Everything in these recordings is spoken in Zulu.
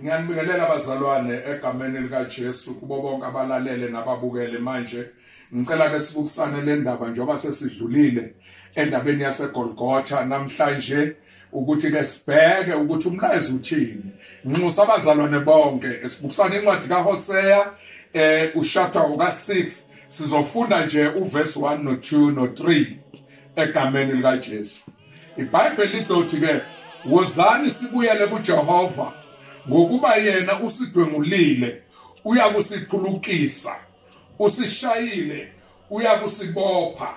ngiyanibingelela abazalwane egameni likaJesu kubo bonke abalalele nababukele manje ngicela ke sibukusane le ndaba njengoba sesidlulile endabeni yaseGolgotha namhlanje ukuthi ke sibheke ukuthi umlayezo uthini nxusa abazalwane bonke esibukusana incwadi kaHosea eh ushapter uka6 sizofunda nje uvesi 1 no2 no3 egameni likaJesu IBhayibheli lizothi ke wozani sibuyele kuJehova ngokuba yena usidwengulile uyakusiphulukisa usishayile uyakusibopha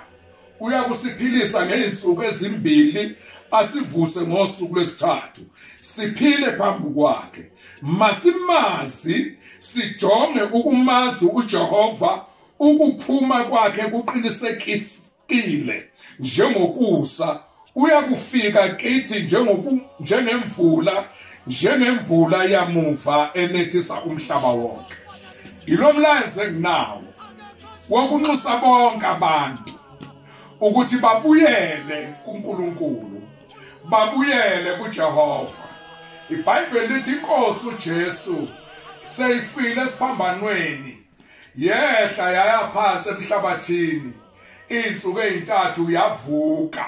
uyakusiphilisa ngeensuku ezimbili asivuse ngosuku lwesithathu siphile phambi kwakhe masimazi sijonge ukumazi uJehova ukuphuma kwakhe kuqinisekisa qile njengokusa uyakufika kithi njengoku njengemvula njengemvula yamuva enethisa umhlaba wonke ilomlayezo enginawo wokunxusa bonke abantu ukuthi babuyele kuNkulunkulu babuyele kuJehova iBhayibheli lithi inkosi uJesu seyifile esiphambanweni yehla yaya phansi emhlabathini insuku ezintathu yavuka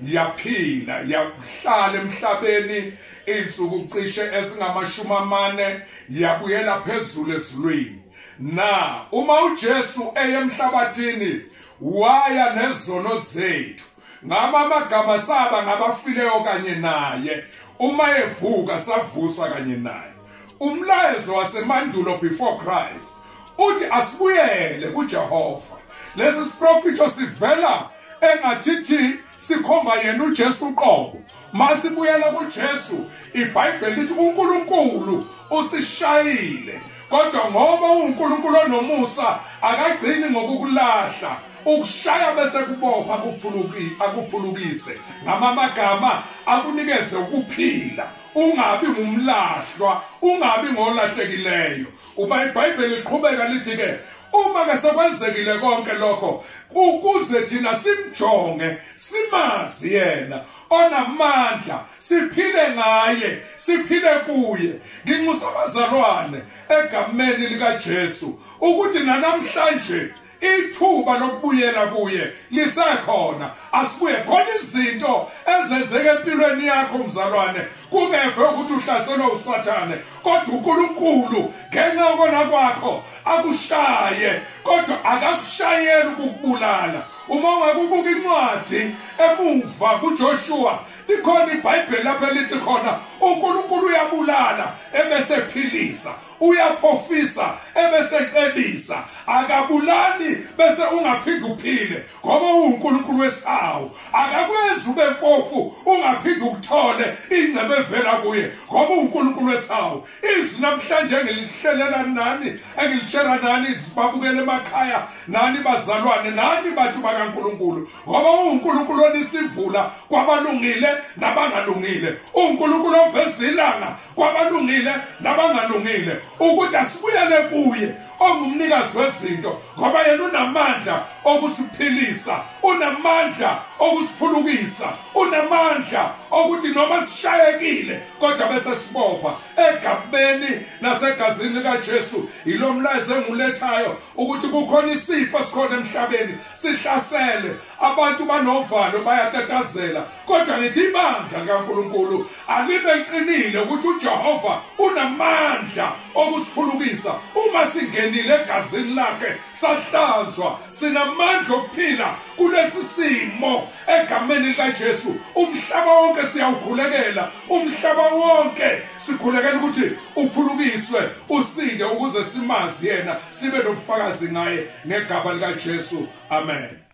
yaphila yahlala emhlabeni insuku cishe esingamashumi amane yabuyela phezulu ezulwini na uma uJesu eyemhlabathini waya nezono zethu ngama amagama saba ngabafileyo kanye naye uma evuka savuswa kanye naye umlayezo wasemandulo before Christ uthi asibuyele kuJehova lesi siprofitho sivela engathithi sikhomba yena uJesu qobo masibuyela kuJesu iBhayibheli lithi uNkulunkulu usishayile kodwa ngoba uNkulunkulu onomusa akagcini ngokukulahla ukushaya bese kubopha akuphuluki akuphulukise ngamamagama akunikeze ukuphila ungabi ngumlahlwa ungabi ngolahlekileyo uba ibhayibheli liqhubeka lithi ke uma ke sekwenzekile konke lokho ukuze thina simjonge simazi yena onamandla siphile ngaye siphile kuye nginxusa abazalwane egameni likaJesu ukuthi nanamhlanje ithuba lokubuyela kuye lisekhona asibuye khona izinto ezenzeka empilweni yakho mzalwane kungeve ukuthi uhlaselwe usathane kodwa unkulunkulu ngenxa yokona kwakho akushaye kodwa akakushayeli ukukubulala uma ungakubuka incwadi emuva kujoshuwa likhona ibhayibheli lapho elithi khona unkulunkulu uyabulala ebesephilisa uyaphofisa ebesecebisa akabulali bese ungaphinde uphile ngoba uwuNkulunkulu wesihawu akakwenzi ube mpofu ungaphinde ukuthole ingcebo evela kuye ngoba uNkulunkulu wesihawu izwi namhlanje engilihlelela nani engilishela nani sibabukele emakhaya nani bazalwane nani bantu bakaNkulunkulu ngoba uNkulunkulu onisimvula kwabalungile nabangalungile uNkulunkulu oveza ilanga kwabalungile nabangalungile ukuthi asibuyele kuye ongumnikazi wezinto ngoba yena unamandla okusiphilisa unamandla okusiphulukisa unamandla okuthi noma sishayekile kodwa bese sibopha egabeni nasegazini likaJesu yilomlayezo engulethayo ukuthi kukhona isifo sikhona emhlabeni sihlasele abantu banovalo bayatatazela kodwa ngithi ibandla likaNkuluNkulu Alibe liqinile ukuthi uJehova unamandla okusiphulukisa uma singenile egazini lakhe sahlanzwa sinamandla okuphila kulesi simo egameni likaJesu umhlaba wonke siyawukhulekela umhlaba wonke sikhulekela ukuthi uphulukiswe usinde ukuze simazi yena sibe nobufakazi ngaye ngegama likaJesu amen